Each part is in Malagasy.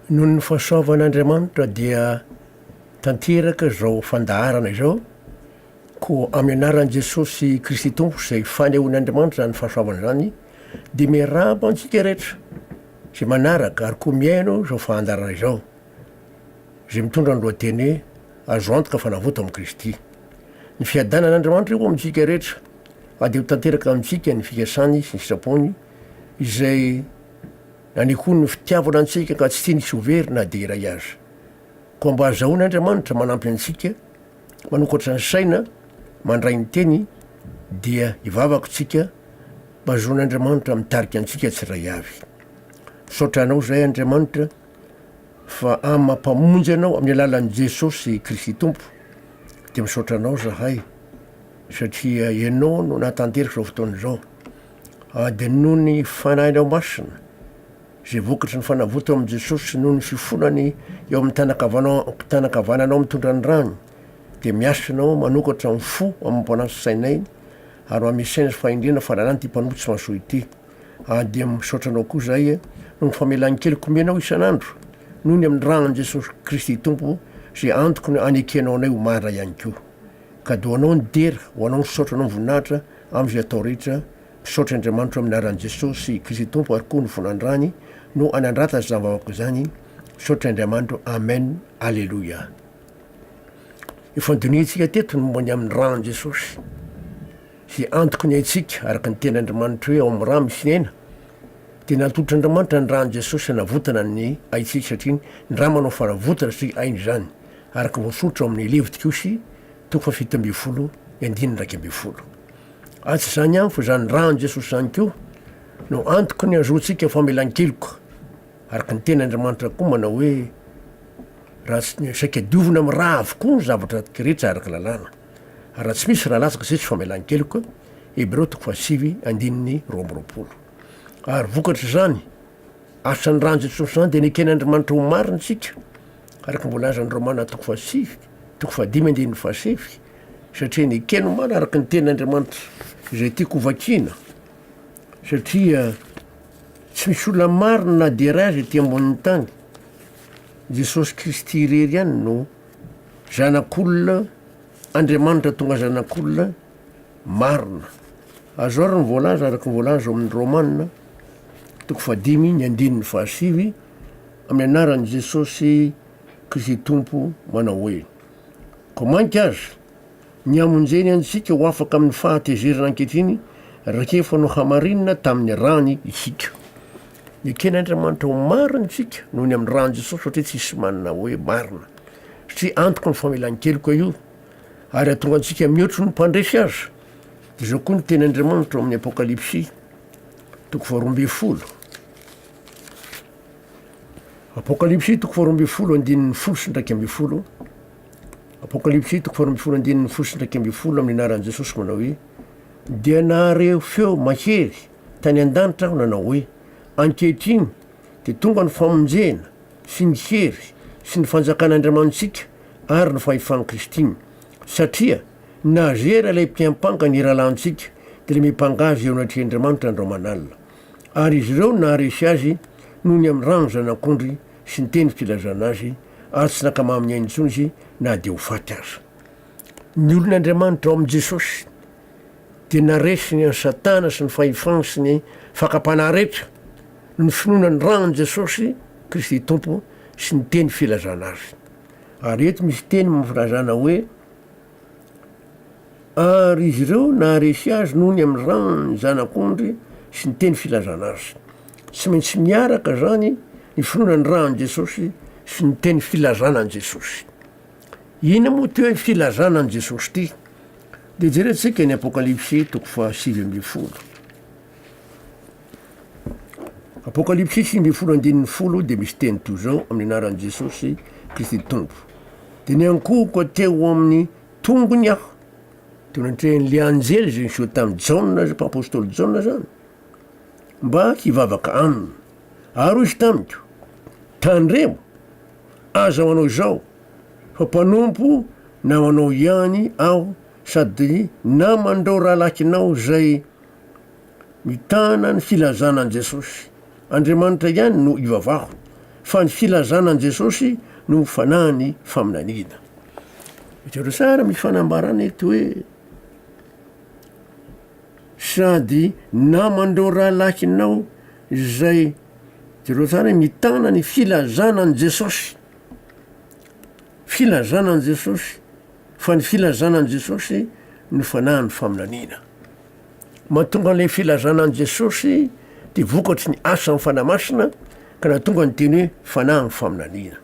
Noho ny fahasoavan'Andriamanitra dia tanteraka izao fandaharana izao, koa amin'ny anaran'i Jesosy Kristy Tompo izay fanehoan'Andriamanitra izany fahasoavana izany dia miarahaba antsika rehetra izay manaraka ary koa mihaino izao fandaharana izao izay mitondra ny lohateny hoe Azo antoka fa navoto amin'i Kristy. Ny fiadanan'Andriamanitra eo amintsika rehetra ary dia ho tanteraka amintsika ny fikasany sy ny sitrapony izay Na ny koa ny fitiavana antsika ka tsy tiany tsy ho very na dia iray aza. Koa mba azahoany Andriamanitra manampy antsika, manokatra ny saina, mandray ny teny, dia hivavaka tsika mba zoan' Andriamanitra mitarika antsika tsiray avy. Misaotra Anao izahay Andriamanitra fa amin'ny maha Mpamonjy Anao amin'ny alalan'i Jesosy Kristy Tompo, dia misaotra Anao izahay satria Ianao no nahatanteraka izao fotoana izao. Adino ny Fanahinao Masina, izay vokatry ny fanavotana ao amin'i Jesosy noho ny fifonany eo amin'ny tànan-kavanao- tànan-kavananao mitondra ny rany, dia miasa Ianao manokatra amin'ny fo amam-panahy sy sainay, ary mba misaina sy fahendrena fa lalàna ity mpanompitsy mahasoa ity. Adm, Misaotra Anao koa izahay noho ny famelan keloka omenao isan'andro, noho ny amin'ny ran'i Jesosy Kristy Tompo izay antoko ny anekenao anay ho marina ihany koa. Kadônao ny dera, ho Anao ny saotra noho ny voninahitra, Amin'izay atao rehetra, mpisaotra Andriamanitro amin'ny anaran'i Jesosy sy i Kristy Tompo ary koa ny fon'Andrany no anandrata izany vavaka izany, misaotra Andriamanitro Amen Aleloia. Efa nodinihintsika teto ny momba ny amin'ny ran'i Jesosy sy antoky ny aintsika araka ny teny Andriamanitro hoe ao amin'ny ra misy ny aina, dia natolotr' Andriamanitra ny ran'i Jesosy hanavotana ny aintsika satria ny ra manao fanavotana sy aina izany araka voasoritra ao amin'ny Levitikosy Toko fahafito ambin'ny folo ny andininy iraika ambin'ny folo. Ary tsy izany ihany fa izany ran'i Jesosy izany koa no antoky ny hahazoantsika famelan-keloka, araka ny teny Andriamanitra koa manao hoe raha tsy ny saika diovina amin'ny ra avokoa ny zavatra rehetra araka lalàna, ary raha tsy misy ra latsaka izay tsy famelan-keloka, Hebreo toko fahasivy andininy roa amby roapolo. Ary vokatr' izany, Asan'i Randja tsy misy zany dia neken'Andrimanitra ho marina isika araka ny voalazan'i Romana toko fahasivy toko fahadimy andininy fahasivy satria nekeny ho marina araka ny tenin'Andriamanitra izay tiako hovakiana satria tsy misy olona marina na dia iray aza ety ambonin'ny tany. Jesosy Kristy irery ihany no zanak'olona, Andriamanitra tonga zanak'olona marina. Azo ary ny voalaza araka ny voalaza ao amin'ny Romana toko fahadimy ny andininy fahasivy amin'ny anaran'i Jesosy Kristy Tompo manao hoe koa mainka aza ny hamonjeny antsika ho afaka amin'ny fahatezerana ankehitriny rakefa no hamarinina tamin'ny rany isika. Neken'Andriamanitra ho marina isika noho ny amin'ny ran'i Jesosy satria tsisy manana hoe marina. Satria antoka ny famelan-keloka io Ary hahatonga antsika mihoatry ny mpandresy aza. Izao koa ny tenin'Andriamanitra ao amin'ny Apokalypsy toko faharoa ambin'ny folo. Apokalypsy toko faharoa ambin'ny folo andininy folo sy ndraiky ambin'ny folo. Apokalypsy toko faharoa ambin'ny folo andininy folo sy ndraiky ambin'ny folo amin'ny anaran'i Jesosy manao hoe dia nahareo feo mahery tany an-danitra aho nanao hoe ankehitriny dia tonga ny famonjena sy ny hery sy ny fanjakan'Andriamanitsika ary ny fahefan'i Christine. Satria nazera ilay mpiampanga ny rahalahintsika, dia namipanga azy eo anatrehan'Andriamanitra andro aman'alina. Ary izy ireo naharesy azy noho ny amin'ny ran'ny Zanak'ondry sy ny teny filazana azy, ary tsy nankamamin'ny ainy intsony izy na dia ho faty aza. Ny olon'Andriamanitra ao amin'i Jesosy dia naresiny an'i Satana sy ny fahefany sy ny fakam-panahy rehetra, noho ny finoana ny ran'i Jesosy Kristy Tompo sy ny teny filazana azy. Ary eto misy teny amin'ny filazana hoe, Ary izy ireo naharesy azy noho ny amin'ny ran'ny Zanak'ondry sy ny teny filazana azy. Tsy maintsy miaraka izany ny finoana ny ran'i Jesosy sy ny teny filazana an'i Jesosy. Inona moa ity hoe filazana an'i Jesosy ity? Dia jerentsika ny Apokalypsy toko fahasivy ambin'ny folo. Apokalypsy sivy ambin'ny folo andininy folo dia misy teny toy izao amin'ny anaran'i Jesosy Kristy Tompo. Dia niankohoka teo amin'ny tongony aho. Teo nantrehan'ilay anjely izay niseho tamin'i Jaona, mpampôstôly Jaona zany, mba hivavaka aminy. Ary hoy izy tamiko, tandremo, aza manao izao, fa mpanompo namanao ihany aho sady naman'ireo rahalahinao izay Mitana ny filazana an'i Jesosy. Andriamanitra ihany no ivavahako, fa ny filazana an'i Jesosy no ho fanahin'ny faminaniana. Hitanareo tsara amin'ny fanambarana eto hoe sady naman'ireo rahalahinao izay jereo tsara hoe mitana ny filazana an'i Jesosy. Filazana an'i Jesosy. Fa ny filazana an'i Jesosy no fanahin'ny faminaniana. Mahatonga an'ilay filazana an'i Jesosy dia vokatry ny asan'ny Fanahy Masina ka nahatonga ny teny hoe fanahin'ny faminaniana.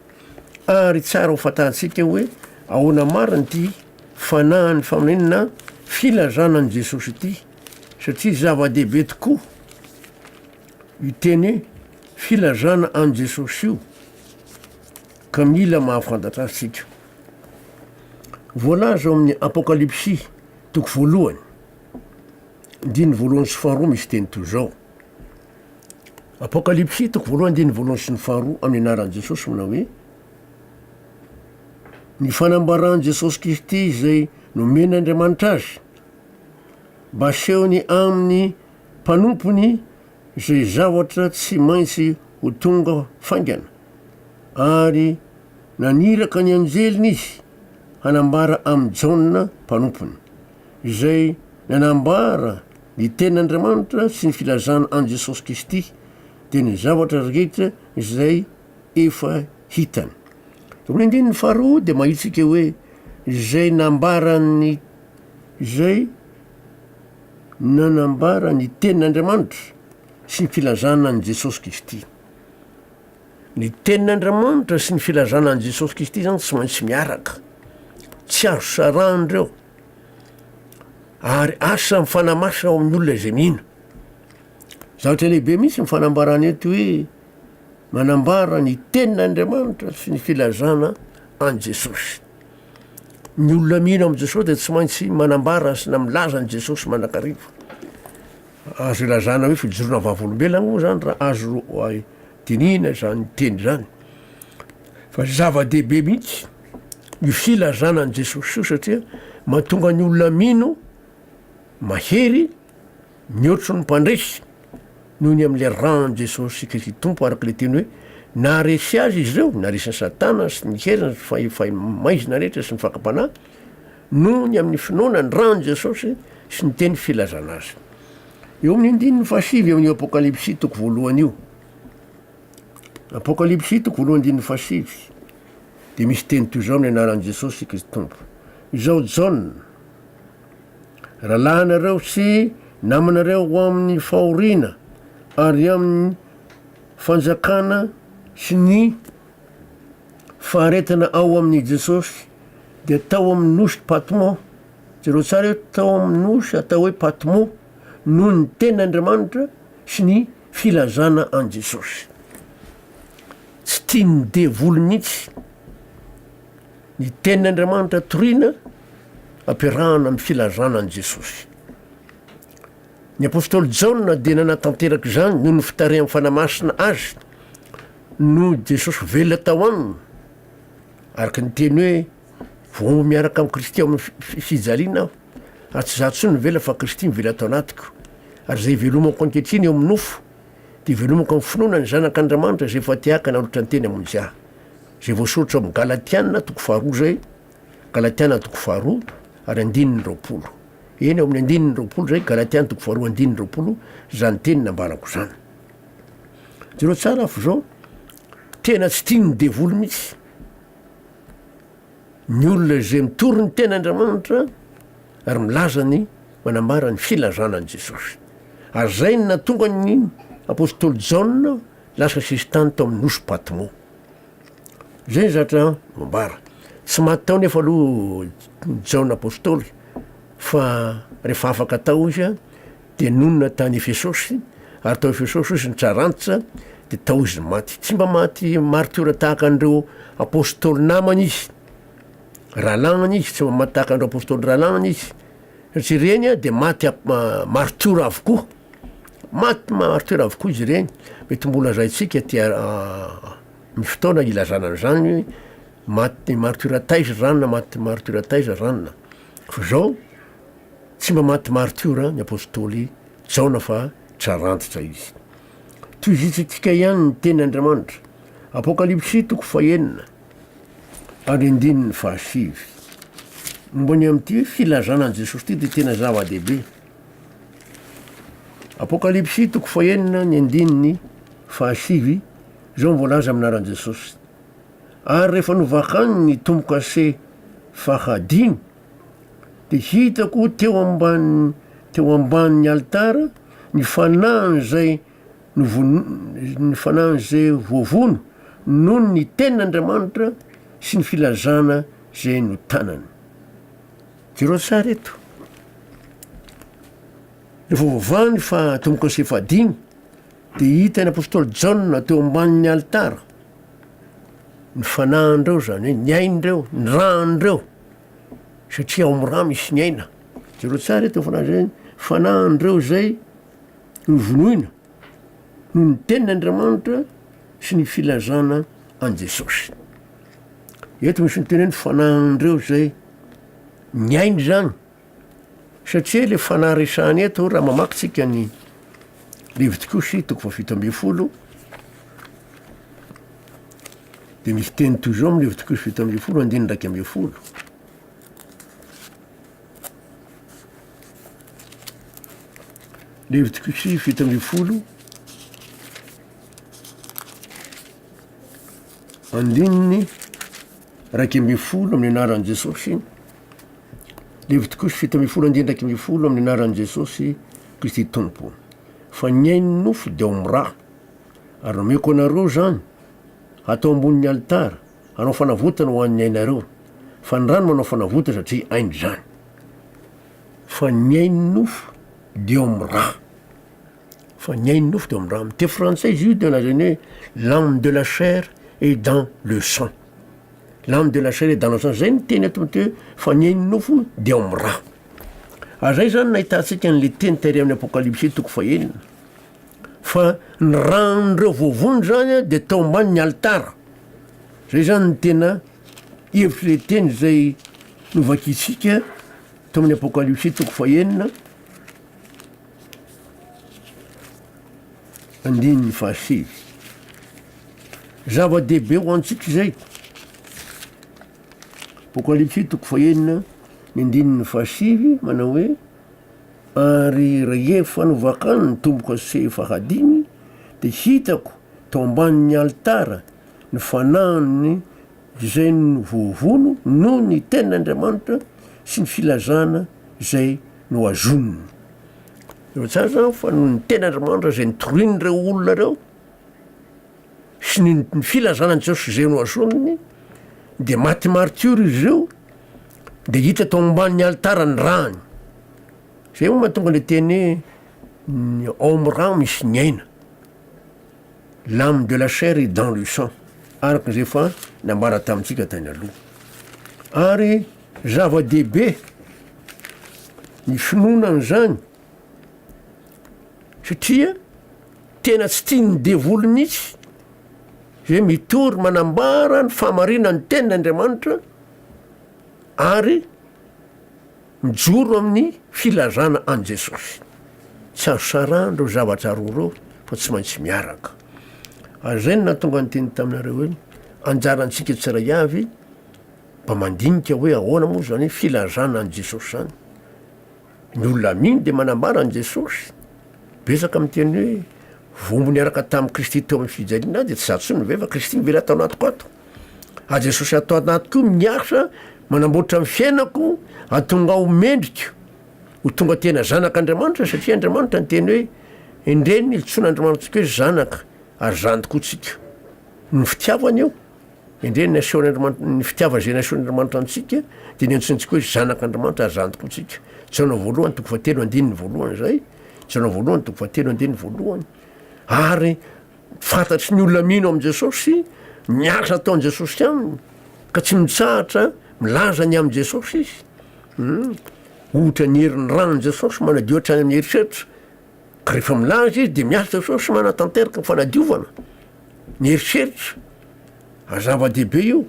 Ary tsara ho fantantsika hoe ahoana marina ity fanahin'ny faminaniana filazana an'i Jesosy ity satria zava-dehibe tokoa io teny hoe filazana an'i Jesosy io. Ka mila mahafantatra azy tsika. Voalaza ao amin'ny Apokalypsy toko voalohany, andininy voalohany sy faharoa misy teny toy izao. Apokalypsy toko voalohany andininy voalohany sy ny faharoa amin'ny anaran'i Jesosy manao hoe ny fanambaran'i Jesosy Kristy izay nomen'Andriamanitra azy mba asehony amin'ny mpanompony izay zavatra tsy maintsy ho tonga faingana, ary naniraka ny anjeliny izy hanambara amin'i Jaona mpanompony, izay nanambara ny tenin'Andriamanitra sy ny filazana an'i Jesosy Kristy, dia ny zavatra rehetra izay efa hitany. Eo amin'ny andininy faharoa dia mahitsika hoe, izay nambarany izay. nanambara ny tenin'Andriamanitra sy ny filazana an'i Jesosy Kristy. Ny tenin'Andriamanitra sy ny filazana an'i Jesosy Kristy zany tsy maintsy miaraka, tsy azo sarahana ireo, ary asa mifanamasina ao amin'ny olona izay mino. Zavatra lehibe mihitsy ny fanambarana eto hoe manambara ny tenin'Andriamanitra sy ny filazana an'i Jesosy. Ny olona mino amin'i Jesosy dia tsy maintsy manambara sy na milaza an'i Jesosy mandrakariva. Azo ilazana hoe fijoroana vavolombelona moa izany raha azo dinihina izany teny izany. Fa zava-dehibe mihitsy ny filazana an'i Jesosy io satria mahatonga ny olona mino mahery Mihoatry ny mpandresy noho ny amin'ilay ran'i Jesosy Kristy Tompo, araka ilay teny hoe, Naharesy azy izy ireo, naresin'i Satana sy ny heriny sy ny fahefaimaizina rehetra sy ny fakam-panahy, noho ny amin'ny finoana ny ran'i Jesosy sy ny teny filazana azy. Eo amin'ny andininy fahasivy eo amin'io Apokalypsy toko voalohany io, Apokalypsy toko voalohany andininy fahasivy, dia misy teny toy izao amin'ny anaran'i Jesosy Kristy Tompo, Izaho Jaona, rahalahinareo sy namanareo ho amin'ny fahoriana ary amin'ny fanjakana sy ny faharetana ao amin'i Jesosy, dia tao amin'ny nosy Patmo, jereo tsara io, tao amin'ny nosy atao hoe Patmo noho ny tenin'Andriamanitra sy ny filazana an'i Jesosy. Tsy tian'ny devoly mihitsy. Ny tenin' Andriamanitra toriana ampiarahana amin'ny filazana an'i Jesosy. Ny apostoly Jaona dia nanatanteraka izany noho ny fitarihan'ny Fanahy Masina azy no Jesosy velona tao aminy, araka ny teny hoe vao miaraka amin'i Kristy ao amin'ny fijaliana aho, ary tsy izaho intsony mivela fa Kristy mivela ato anatiko, ary izay ivelomako ankehitriny eo amin'ny nofo, Dia velomiko amin'ny finoana ny Zanak' Andriamanitra izay efa tehaka nalotra ny teny hamonjy ahy. Izay voasoratra ao amin'ny Galatiana toko faharoa izay, Galatiana toko faharoa ary andininy roapolo. Eny, ao amin'ny andininy roapolo izay, Galatiana toko faharoa andininy roapolo, izany teny nambarako izany. Jereo tsara fa izao, tena tsy tian'ny devoly mihitsy. Ny olona izay mitory ny tena Andriamanitra ary milaza ny manambara ny filazana an'i Jesosy. Ary izay no nahatonga ny apostoly Jaona lasa sesitany tao amin'ny nosy Patmo. Izay ny zatra voambara. Tsy maty tao nefa aloha Jaona apostoly fa rehefa afaka tao izy Dia nonina tany Efesosy, ary tao Efesosy izy nitsara antitra, dia tao izy maty. Tsy mba maty martiora tahaka an'ireo apostoly namany izy, rahalahinany izy, tsy mba maty tahaka an'ireo apostoly rahalahinany izy, satria ireny dia maty martiora avokoa. Maty martiora avokoa izy ireny. Mety mbo lazaintsika aty amin'ny fotoana ilazana an'izany hoe maty martiora taiza izany na maty martiora taiza izany na. Fa izao Tsy mba maty martiora ny apostoly Jaona fa trarantitra izy. Tohizintsika ihany ny teny Andriamanitra, Apokalypsy toko fahenina ary andininy fahasivy. Momba ny amin'ity filazana an'i Jesosy ity dia tena zava-dehibe. Apokalypsy toko fahenina ny andininy fahasivy, izao no voalaza amin'ny anaran'i Jesosy. Ary rehefa novakany ny tombo-kase fahadimy, Dia hitako teo ambany teo ambanin'ny alitara ny fanahin'izay novono ny fanahin'izay voavono noho ny tenin'Andriamanitra sy ny filazana izay notanany. Jereo tsara eto. Rehefa voavahan'ny fa tomboka sy fahadimy, dia hitan'ny apostoly Jaona teo ambanin'ny alitara ny fanahin'ireo zany hoe ny ain'ireo, ny ràn'ireo. satria ao amin'ny rà misy ny aina. Jereo tsara eto fanahy izay ny fanahin'ireo izay novonoina noho ny tenin'Andriamanitra sy ny filazana an'i Jesosy. Eto misy ny teny hoe ny fanahin'ireo izay niaina izany. Satria ilay fanahy resahana eto, raha mamaky tsika ny Levitikosy toko fahafito ambin'ny folo, dia misy teny toy izao amin'ny Levitikosy fito ambin'ny folo andininy iraika ambin'ny folo. Levitikosy fito ambin'ny folo andininy iraika ambin'ny folo amin'ny anaran'i Jesosy. Levitikosy fito ambin'ny folo andininy iraika ambin'ny folo amin'ny anaran'i Jesosy Kristy Tompo. Fa ny ainy nofo dia ho miraha. Ary nomeko anareo izany, hatao ambonin'ny alitara, hanao fanavotana ho an'ny ainareo. Fa ny rano manao fanavotana satria ainy izany. Fa ny ainy nofo dia ho miraha. Fa ny ainy nofo dia ho miraha. Amin'ny teny frantsay izy io dia lazainy hoe l'âme de la chair et dans le sang. L'âme de la chair est dans la chair, zay ny teny eto mety hoe faniahin'ny nofo de ao amin'ny ra. Ary zay zany nahitantsika an'le teny tahiry amin'ny apokalypsy toko fahenina fa ny ran'ireo voavonjy zany a de tao ambanin'ny alitara, zay zany ny tena hevitr'le teny zay novakintsika tao amin'ny apokalypsy toko fahenina. Andininy fahasivy. Zava-dehibe ho antsika izay. Apokalypsy toko fahenina ny andininy fahasivy manao hoe ary rehefa novakany ny tombo-kase fahadimy dia hitako tao ambanin'ny alitara ny fanahiny izay voavono noho ny tenin'Andriamanitra sy ny filazana izay nohazoniny. Efa tsara zany fa noho ny tenin'Andriamanitra izay nitorin'ireo olona ireo sy ny filazanan'i Jesosy izay nohazoniny dia maty martiora izy ireo dia hita tao ambanin'ny alitara ny rany. Zay moa mahatonga le teny ny ao amin'ny rano misy ny aina. L'âme de la chair est dans le sang araka izay efa nambara tamintsika tany aloha. Ary Zava-dehibe ny finoana an'izany satria tena tsy tian'ny devoly mihitsy izay mitory manambara ny fahamarinan'ny tenin' Andriamanitra ary mijoro amin'ny filazana an'i Jesosy. Tsy azo sarahana ireo zavatra roa ireo fa tsy maintsy miaraka. Ary izay no nahatonga ny teny taminareo hoe anjarantsika tsiraiavy Mba mandinika hoe ahoana moa izany hoe filazana an'i Jesosy izany? Ny olona amin dia manambara an'i Jesosy. Betsaka miteny hoe vombo niaraka tamin'i Kristy teo amin'ny fijaliana ahy dia tsy za tsony ve fa Kristy mively ato anatiko ato. A Jesosy ato anatiko io miasa manamboatra ny fiainako atonga ho mendriko ho tonga tena zanak'Andriamanitra satria Andriamanitra ny teny hoe endrey ny iltsoana Andriamanitsika hoe zanaka ary zany tokoa tsika. Ny fitiavana io. Endrey ny asehon' Andriamanitra, ny fitiavana izay nasehon' Andriamanitra antsika dia ny antsointsika hoe zanak' Andriamanitra ary zantiko ntsika. Jaona voalohany toko fahatelo andininy voalohany izay. Jaona voalohany toko fahatelo andininy voalohany. Ary fantatry ny olona mino amin'i Jesosy ny asa ataon'i Jesosy aminy ka tsy mitsahatra milaza ny amin'i Jesosy izy. Ohatra ny herin'ny ranon'i Jesosy manadio hatrany amin'ny eritreritra Ka rehefa milaza izy dia miasa Jesosy sy manatanteraka ny fanadiovana ny eritreritra. Ary zava-dehibe io.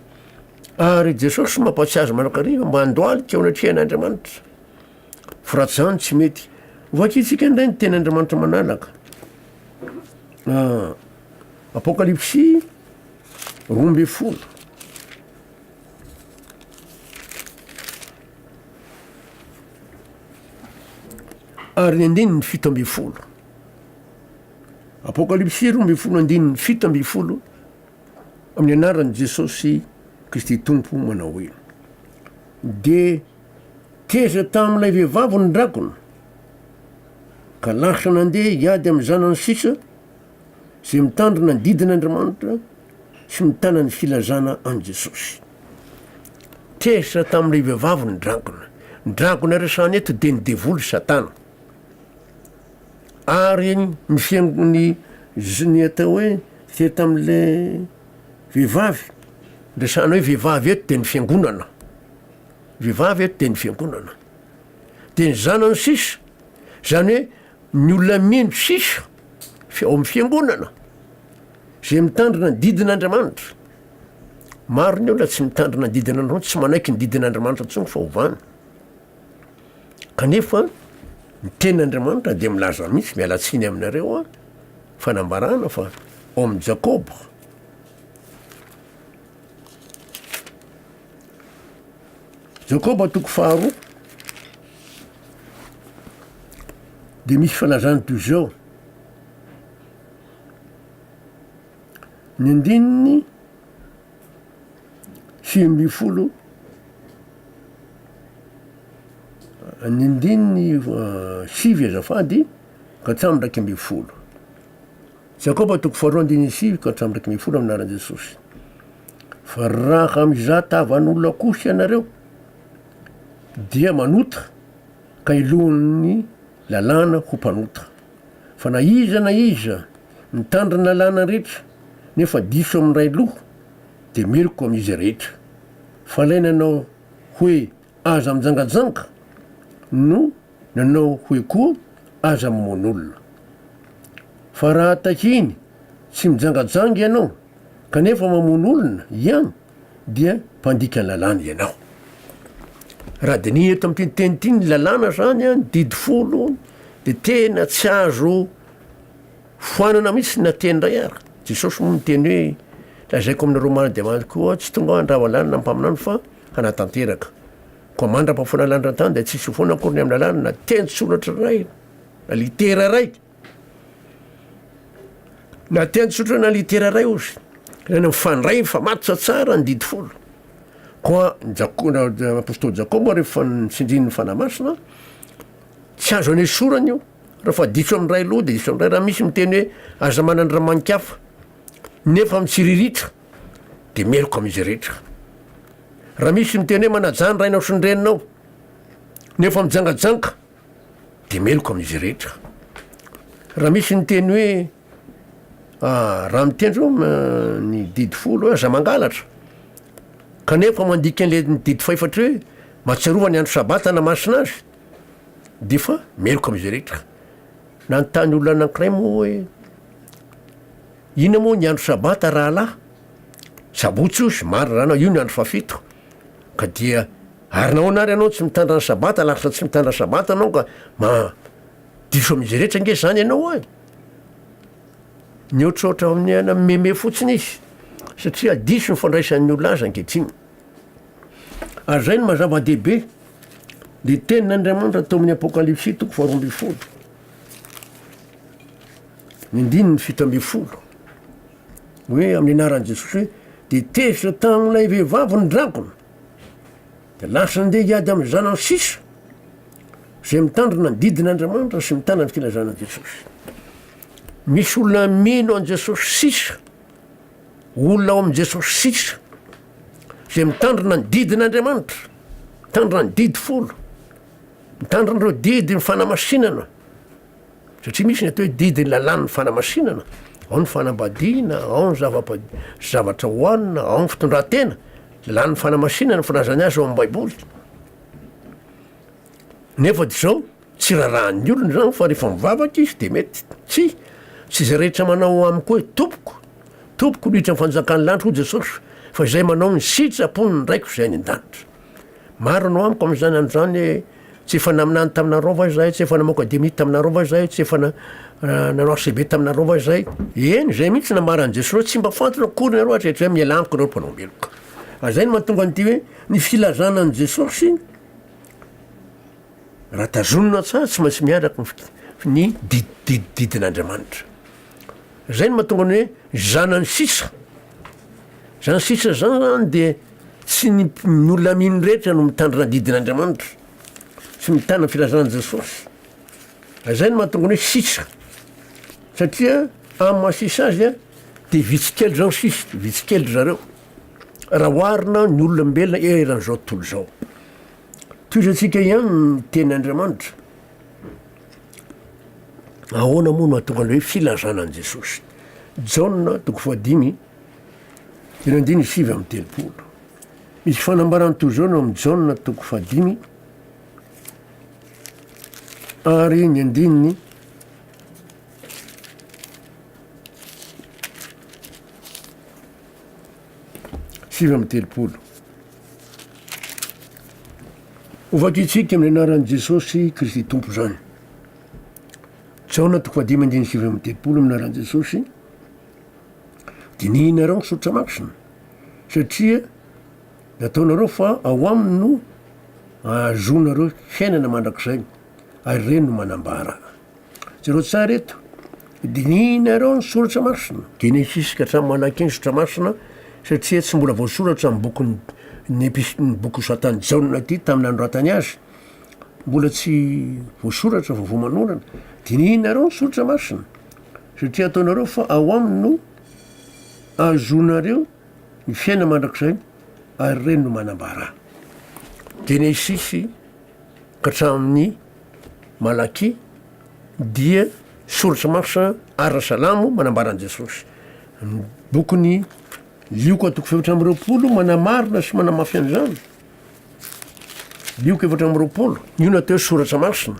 Ary Jesosy mampatsiahy azy manakariva mba handohalika eo anatrehan'Andriamanitra. Fa raha tsy izany tsy mety. Hovakintsika indray ny teny Andriamanitra manalaka. Ah, Apokalypsy roa ambin'ny folo. Ary ny andininy fito ambin'ny folo. Apokalypsy roa ambin'ny folo andininy fito ambin'ny folo amin'ny anaran'i Jesosy Kristy Tompo manao hoe de teza tamin'ilay vehivavy ny drakona ka lasa nandeha hiady amin'ny zanany sisa izay mitandrina ny didin'Andriamanitra Tsy mitana ny filazana an'i Jesosy. Tezitra tamin'ilay vehivavy ny dragona. Ny dragona resahana eto dia ny devoly Satana. Ary ny fiangon'ny ny atao hoe teo tamin'ilay vehivavy, resahana hoe vehivavy eto dia ny fiangonana. Vehivavy eto dia ny fiangonana. Dia ny zanany sisa. Izany hoe Ny olona mendry sisa ao amin'ny fiangonana izay mitandrina ny didin'Andriamanitra. Maro ny olona tsy mitandrina ny didin'Andriamanitra, tsy manaiky ny didin'Andriamanitra intsony fa ovàna. Kanefa ny tenin'Andriamanitra dia milaza mihitsy, miala tsiny aminareo aho, fanambarana fa ao amin'ny Jakoba, Jakoba toko faharoa dia misy fanazany toy izao, ny andininy sivy ambin'ny folo ny andininy sivy azafady ka hatramin'ny iraika ambin'ny folo. Jakoba toko faharoa andininy sivy ka hatramin'ny iraika ambin'ny folo amin'ny anaran'i Jesosy. Fa raha mizà tavan'olona kosa ianareo, dia manota ka helohin'ny lalàna ho mpanota. Fa na iza na iza mitandrina ny lalàna rehetra nefa diso amin'ny iray loha, dia meloka amin'izy rehetra. Fa ilay nanao hoe Aza mijangajanga no nanao hoe koa aza mamono olona. Fa raha takiany tsy mijangajanga ianao kanefa mamono olona ian dia mpandika lalàna ianao. Raha diniha eto amin'ity teny ity ny lalàna zany an, didy folo, dia tena tsy azo. Foanana mihitsy ny nateny indray ary Jesosy moa niteny hoe, Lazaiko aminareo marina dia marina tokoa aho, tsy tonga aho handrava lalana na mpaminany fa hanatanteraka. Koa mandra-pahafoana ny lanitra an-tany dia tsy hisy ho foana akory ny amin'ny lalana na teny-tsoratra iray na litera iray na teny-tsoratra na litera iray ozy, izany mifandray, mifamatotra tsara ny didy folo. Koa ny Jako- ny apostoly Jakoba rehefa nitsindrin'ny Fanahy Masina, tsy azo anesorana io. Raha fa diso amin'ny iray aloha dia diso amin'ny iray, raha misy miteny hoe aza manan-dRamanikafa nefa mitsiriritra dia meloka amin'izay rehetra. Raha misy miteny hoe manajà ny rainao sy ny reninao nefa mijangajanga dia meloka amin'izay rehetra. Raha misy miteny hoe ah, raha miteny zao ah, ny didy folo hoe aza mangalatra kanefa mandika an'ilay didy fahefatra hoe mahatsiarova ny andro sabata na masina azy Dia fa meloka amin'izay rehetra. Nanontany olona anankiray moa hoe, Inona moa ny andro sabata rahalahy? Sabotsy hoy izy, marina raha anao, io ny andro fahafito. Ka dia ary nahoana ary ianao tsy mitandra ny sabata, laksa tsy mitandra ny sabata ianao ka ma diso amin'izay rehetra ange izany ianao an? Nihoatrohatra amin'ny hanameme fotsiny izy satria diso ny fandraisan'ny olona azy ankehitriny. Ary izay no maha zava-dehibe. Dia tenin' Andriamanitra tao amin'ny Apokalypsy toko faharoa ambin'ny folo. Ny andininy fito ambin'ny folo. Hoe amin'ny anaran'i Jesoa Kristy hoe dia tezitra tamin'ilay vehivavy ny drakona. Dia lasa ndeha hiady amin'ny zanany sisa izay mitandrina ny didin' Andriamanitra sy mitana ny filazana an'i Jesosy. Misy olona mino an'i Jesosy sisa. Olona ao amin'i Jesosy sisa izay mitandrina ny didin'Andriamanitra, mitandrina ny didy folo, mitandrina ireo didy ny fanamasinana, satria misy ny atao hoe didy ny lalàn'ny fanamasinana, ao ny fanambadiana, ao ny zavatra hohanina, ao ny fitondran-tena, lalàn'ny fanamasinana, ny filazany azy ao amin'ny Baiboly. Nefa dia izao, tsy rarahan'ny olona izany fa rehefa mivavaka izy dia mety. Tsia, tsy izay rehetra manao amiko hoe, Tompoko, Tompoko, no hiditra ny fanjakan'ny lanitra, hoy Jesosy, fa izay manao ny sitrapon'ny Raiko izay any an-danitra. Marina ao amiko amin'izany andro izany hoe, tsy efa naminany taminareo va izahay, tsy efa namoaka demony taminareo va izahay, tsy efa nanao archeveque taminareo va izahay? Eny, izay mihitsy no nambaran'i Jesosy hoe, tsy mba fantany akory nareo hatrehitr'izay, miala amiko nareo mpanao-meloka. Ary izay no mahatonga an'ity hoe, ny filazana an'i Jesosy, Raha tazonina tsara tsy maintsy miaraka ny fik- ny di- di- didin'Andriamanitra. Zay no mahatonga ny hoe zanany sisa. Zany sisa zany zany de tsy ny mp- ny olona amin' ny rehetra no mitandrina ny didin'Andriamanitra sy mitana ny filazan'i Jesosy. Zay no mahatonga ny hoe sisa satria amin'ny maha sisa azy a de vitsy kely zao ny sisa, vitsy kely ry zareo. raha oharina ny olombelona eran'izao tontolo izao. Tohizantsika ihany ny teny Andriamanitra. Ahoana moa no atonga ny hoe filazana an'i Jesosy? Jaona toko fahadimy, teny andiny sivy amin'ny telopolo. Misy fanambarany toy izao no amin'ny Jaona toko fahadimy, ary ny andininy sivy amby telopolo. Ho vakitsika amin'ny anaran'i Jesosy Kristy Tompo izany. Jaona toko fahadimy andiny sivy amby telopolo amin'ny anaran'i Jesosy. Dinihinareo ny soritra masina satria nataonareo fa ao aminy no ahazoanareo fiainana mandrakizay ary ireny no manambara. Jereo tsara eto. Dinihinareo ny soratra masina, Genesisy ka hatramin'ny Malaki ny soratra masina satria tsy mbola voasoratra amin'ny bokin'ny ny epis- ny boky nosoratan'i Jaona ity tamin'ny nanoratany azy. Mbola tsy voasoratra, vaovao manorana. Dinihinareo ny soratra masina satria ataonareo fa ao aminy no ahazoanareo ny fiainana mandrakizay ary ireny no manambara. Genesisy ka hatramin'ny Malakia dia Source Marche Ara Salamo manambara an'i Jesosy. Ny bokin'i Lioka toko fahefatra amby roapolo manamarina sy manamafy an'izany. Lioka efatra amby roapolo, io natao hoe soratra masina.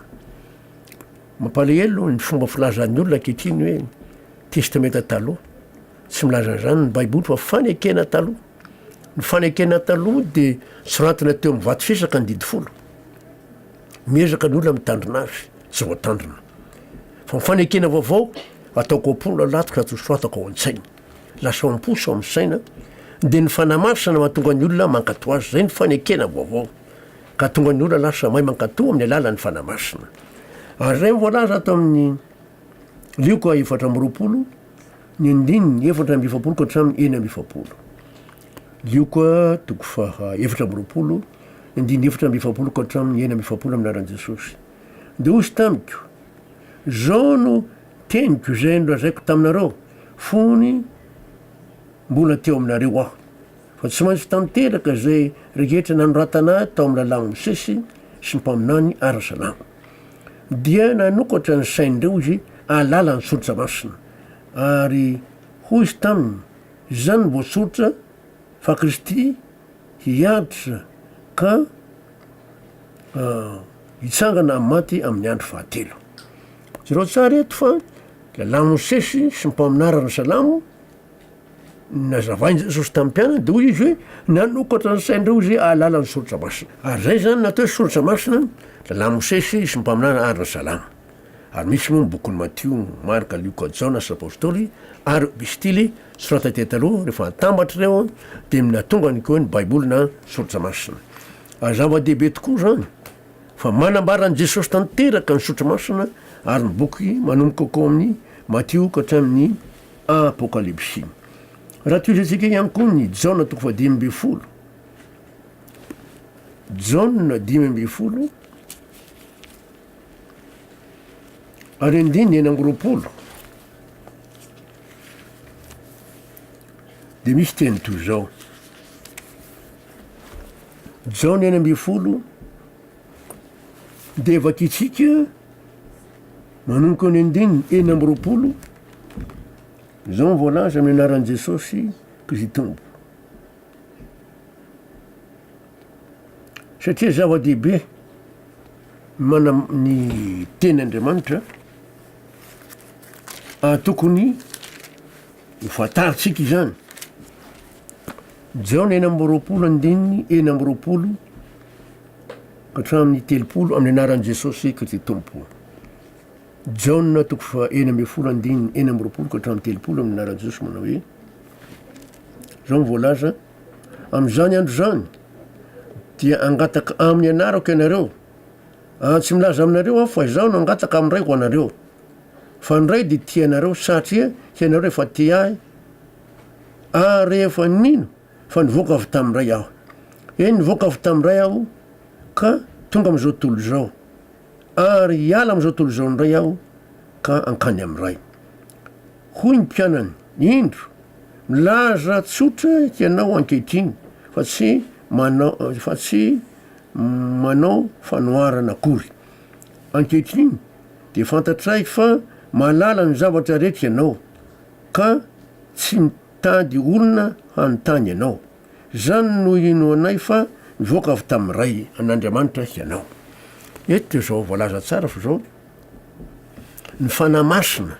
Mampalahelo ny fomba filazan'ny olona ankehitriny hoe Testamenta Taloha. Tsy milaza an'izany ny Baiboly fa fanekena taloha. Ny fanekena taloha dia soratana teo amin'ny vato fisaka ny didy folo. Miezaka ny olona mitandrina azy tsy voatandrina. Fa ny fanekena vaovao ataoko am-pony anaty ka tosoatako ao an-tsainy. Lasa ao am-po sy ao amin'ny saina dia ny fanahy masina no mahatonga ny olona mankato azy. Izay ny fanekena vaovao ka hatonga ny olona lasa mahay mankato amin'ny alalan'ny fanahy masina. Ary izay ny voalaza ato amin'ny Lioka efatra amby roapolo ny andininy efatra amby efapolo ka hatramin'ny enina amby efapolo. Lioka toko faha efatra amby roapolo. ny dimy efatra amby efapolo ka hatramin'ny enina amby efapolo amin'ny anaran'i Jesosy. Dia hozy tamiko, Izao no teniko izay nolazaiko taminareo fony mbola teo aminareo aho, fa tsy maintsy tanteraka izay rehetra nanoratana tao amin'ny Lalàn'i Mosesy sy ny mpaminany ara-salamo. Dia nanokatra ny sain'ireo izy alalan'ny soritra masina, ary hozy taminy, Izany no voasoritra fa Kristy hiantosa ka hitsangana amin'ny maty amin'ny andro fahatelo. Jerao tsara eto fa lehilahy Mosesy sy ny mpaminara ny Salamo nazavain'i Jesosy tamin'ny mpianany dia hoy izy hoe nanokatra ny sain'ireo izy hahalala ny soratra masina. Ary izay izany natao hoe soratra masina, lehilahy Mosesy sy ny mpaminana ary ny Salamo. ary misy moa ny bokin'i Matio, Marka, Lioka, Jaona sy ny Apostoly, ary Epistily, soratra teny taloha, rehefa atambatra ireo dia minatonga ny koa hoe ny Baiboly na Soratra Masina. Ary zava-dehibe tokoa izany, fa manambara an'i Jesosy tanteraka ny Soratra Masina ary ny boky manomboka ko amin'ny Matio ka hatramin'ny Apokalypsy. Raha tohizantsika ihany koa ny Jaona toko fahadimy ambin'ny folo, Jaona dimy ambin'ny folo, Ary andininy enina amby roapolo dia misy teny toy izao. Jaona enina ambin'ny folo dia vakintsika manomboka ny andininy enina amby roapolo izao ny voalaza amin'ny anaran'i Jesosy Kristy Tompo. Satria zava-dehibe ny manam- ny teny Andriamanitra, ary tokony ho fantarintsika izany. Jaona enina amby roapolo andininy enina amby roapolo ka hatramin'ny telopolo amin'ny anaran'i Jesosy Kristy Tompo. Jaona toko fa enina ambin'ny folo andininy enina amby roapolo ka hatramin'ny telopolo amin'ny anaran'i Jesosy manao hoe, izao no voalaza, Amin'izany andro izany, dia hangataka amin'ny anarako ianareo, ary tsy milaza aminareo aho fa izaho no hangataka amin'ny Ray ho anareo, fa ny Ray dia tia anareo satria hianareo efa tia ahy ary efa nino fa nivoaka avy tamin'ny Ray aho. Eny, nivoaka avy tamin'ny Ray aho ka tonga amin'izao tontolo izao, ary hiala amin'izao tontolo izao ny Ray aho ka hankany amin'ny Ray. Hoy ny mpianany, Indro, milaza tsotra ianao ankehitriny, fa tsy manao, fa tsy manao fanoharana akory. Ankehitriny dia fantatray fa mahalala ny zavatra rehetra ianao, ka tsy mitady olona hanontany anao. Izany no hinoanay fa nivoaka avy tamin'ny Ray, an'Andriamanitra, hianao. Eto dia izao voalaza tsara fa izao, Ny Fanahy Masina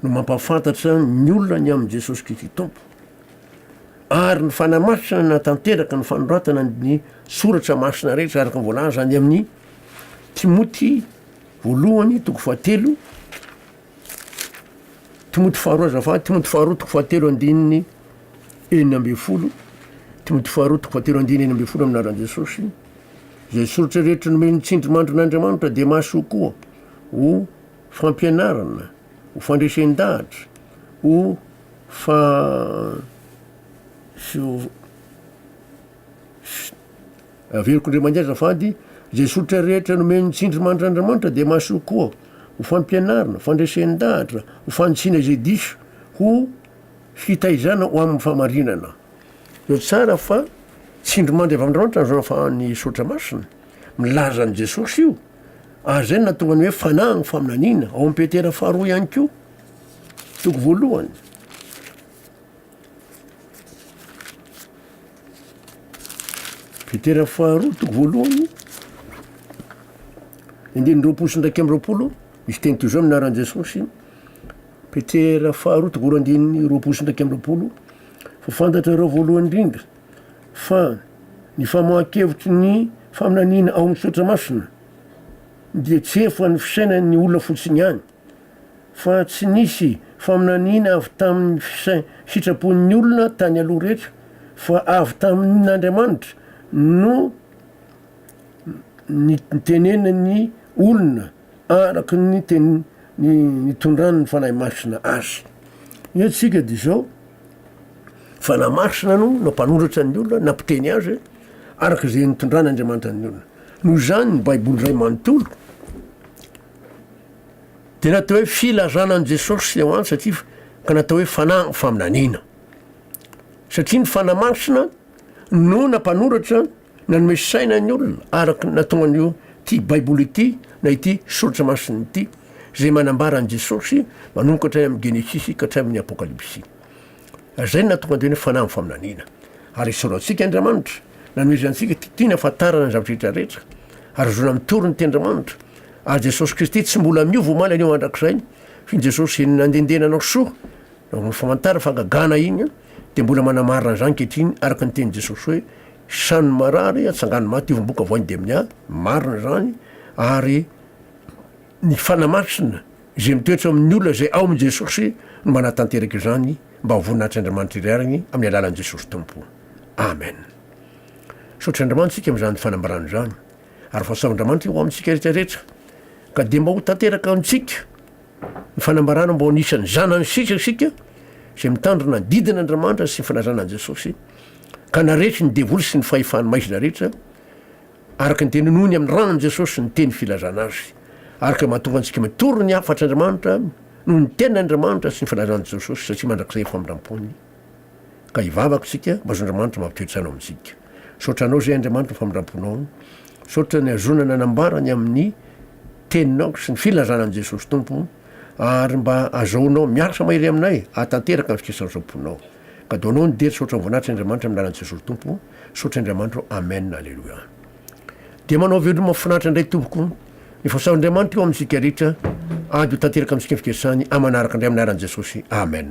no mampahafantatra ny olona ny amin'i Jesosy Kristy Tompo. Ary ny Fanahy Masina no natanteraka ny fanoratana ny soratra masina rehetra araka ny voalaza any amin'ny Timoty voalohany toko fahatelo Timoty faharoa azafady, Timoty faharoa toko fahatelo andininy enina ambin'ny folo, Timoty faharoa toko fahatelo andininy enina ambin'ny folo amin'ny anaran'i Jesosy. Izay soritra rehetra nomeny ny tsindrimandrin'Andriamanitra dia mahasoa koa ho fampianarana, ho fandresen-dahatra, ho fa sy ho Averiko ndray mandeha azafady, izay soritra rehetra nomen'ny tsindrimandry Andriamanitra dia mahasoa koa ho fampianarana, fandresen-dahatra, ho fanitsiana izay diso, ho fitaizana ho amin'ny fahamarinana. Dia tsara fa tsindrimandry avy amin'Andriamanitra ny fahafahan'ny soritra masina, milaza an'i Jesosy io, ary izay no nahatonga ny hoe fanahy ny faminaniana, ao amin'i Petera faharoa ihany koa, toko voalohany. Petera faharoa toko voalohany, andininy roapolo sy indraika amby roapolo, misy teny toy izao ny anaran'i Jesosy, Petera faharoa toko voalohany andininy roapolo sy indraika amby roapolo, fa fantatrareo voalohany indrindra fa ny famoahan-kevitry ny faminaniana ao amin'ny soratra masina dia tsy efa ny fisainan'ny olona fotsiny ihany, fa tsy nisy faminaniana avy tamin'ny fisain, sitrapon'ny olona tany aloha rehetra, fa avy tamin'Andriamanitra no nitenenin'ny olona araka ny teny nitondran'ny Fanahy Masina azy. Ny antsika dia izao, Fanahy Masina no nampanoratra ny olona, nampiteny azy araka izay nitondran'Andriamanitra ny olona. Noho izany ny Baiboly iray manontolo, Dia natao hoe filazana an'i Jesosy ilay hoany satria ka natao hoe fanahy ny faminaniana. Satria ny fanahy masina no nampanoratra nanome saina ny olona araka ny nataon'io ity Baiboly ity na ity soratra masina ity izay manambara an'i Jesosy manomkatra any amin'ny Genesisy ka hatramin'ny Apokalypsy. Izay no nahatonga an'ireny fanahy amin'ny faminaniana. Ary esorao antsika Andriamanitra, nanohizana antsika tia tiana hahafantarana ny zava-drehetra rehetra, ary hozona amin'ny torin'ny Tendramanitra, ary Jesosy Kristy tsy mbola miova omaly anio mandrakizay, satria ny Jesosy izay nandendena anao soa, nanao ny famantarana fahagagana iny, dia mbola manamarina an'izany ankehitriny, araka ny tenin'i Jesosy hoe, Hisanon' ny marary, hatsangano ny maty, hivombokavoan' ny demoniaky, marina izany, ary ny Fanahy Masina, Izay mitoetra amin'ny olona izay ao amin'i Jesosy no manatanteraka izany mba ho voninahitr' Andriamanitra irery any amin'ny alalan'i Jesosy Tompo. Amen. Misaotra Andriamanitra isika amin'izany fanambarana izany ary fahasahoan'Andriamanitra ho amintsika rehetra rehetra ka dia mba ho tanteraka amintsika ny fanambarana mba ho anisan'ny zanany sisa isika izay mitandrina ny didin' Andriamanitra sy ny filazana an'i Jesosy ka naretry ny devoly sy ny fahefany maizina rehetra Araka ny teny nohony amin'ny ran'i Jesosy ny teny filazana Azy. Araka ny mahatonga antsika mitory ny hafatr' Andriamanitra noho ny tenin' Andriamanitra sy ny filazan'i Jesosy satria mandrakizay ny famindram-pony ka hivavaka isika mba zon-dRamanitra mampitoe tsaina ao amintsika. Misaotra Anao izay Andriamanitra ny famindram-ponao. Misaotra ny ahazoana nanambara ny amin'ny teninao sy ny filazana an'i Jesosy Tompo ary mba azahoanao miarsa mahery aminay hahatanteraka ny fikesan'izao mponao. Kadoanao ny dia ry saotra ny voninahitr' Andriamanitra amin'ny lalan'i Jesosy Tompo. Misaotra Andriamanitro Amen Aleloia Dia manao veloma mafinaritra indray tompoko Ny fahasoavan Andriamanitra eo amintsika rehetra Ady ho tanteraka amintsika ny fikesany Amanaraka indray amin'ny anaran'i Jesosy Amen.